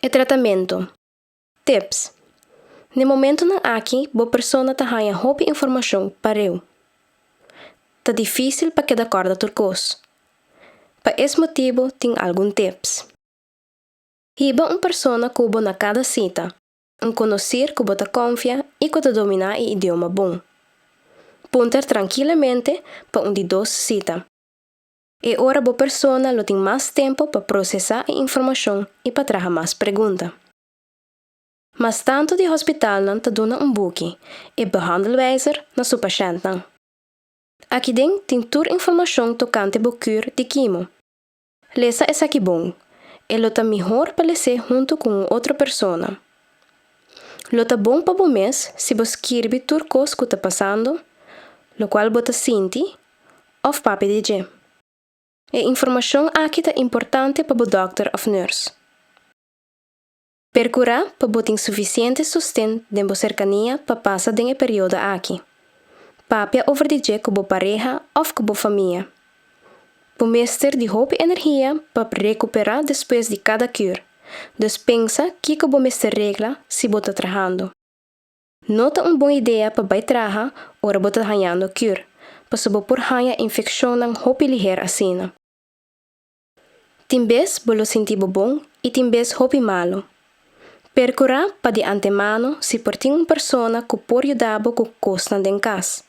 E tratamentu. Tips, N'e momentunan aki bo persona ta haña hopi informashon pare'u. Ta difísil pa keda kòrda tur kos. Pa es motibu tin algun tips. Hiba un persona ku bo na kada sita, un konosir ku bo ta konfia i ku ta dominá e idioma bon. Punter trankilamente pa un di dos sita. E ora bo persona lo tin mas tempu pa prosesá e informashon i pa traha mas pregunta. Mas tantu di hospitalnan ta duna un buki, e Behandelwijzer, na su pashèntnan. Akiden tin tur informashon tokante bo kuur di kimo. Lesa esaki bon, e lo ta mihor pa les'é huntu ku un otro persona. Lo ta bon pa bo mes si bo skirbi tur kos ku ta pasando, lokual bo ta sinti òf papia di dje. E informashon aki ta importante pa bo dòkter òf nùrs. Perkurá pa bo tin sufisiente sosten den bo serkania pa pasa den e periodo aki. Papia over di dje ku bo pareha òf ku bo famia. Bo mester di hopi energia pa rekuperá despues di kada kür, dus pensa kiko bo mester regla si bo ta trahando. No ta un bon idea pa bai traha ora bo ta hañando cure, pasobra bo por haña infeccionnan hopi liher asina. Tin bes bo lo sinti bo bon y tin bes hopi malu. Percura pa di antemano si por tin un persona cu por yuda bo cu cosnan den cas,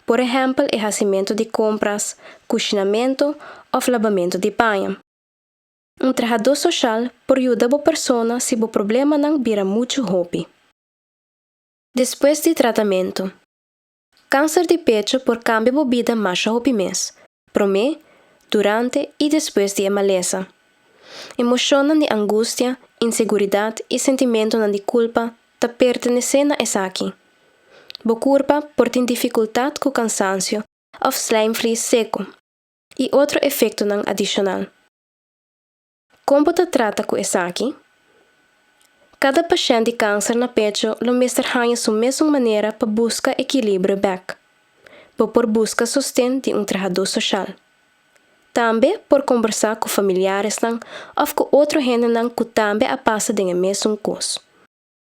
por ehempel e hacimento di compras, cucinamento of labamento di baña. Un trahador social por yuda bo persona si bo problemanan bira muchu hopi. Despues di tratamentu. Kanser di pecho por kambia bo bida masha hopi mes, promé, durante i despues di e malesa. Emoshonnan di angustia, inseguridat i sentimentunan di kulpa ta pertenesé na esaki. Bo kurpa por tin difikultat ku kansansio òf slèmvlies seku i otro efektonan adishonal. Kon bo ta trata ku esaki? Kada pashènt di kanser na pecho lo mester haña su mes un manera pa buska ekilibrio bèk. Bo por buska sosten di un trahadó soshal. Tambe por kombersá ku familiaresnan òf ku otro hendenan ku tambe a pasa den e mesun kos.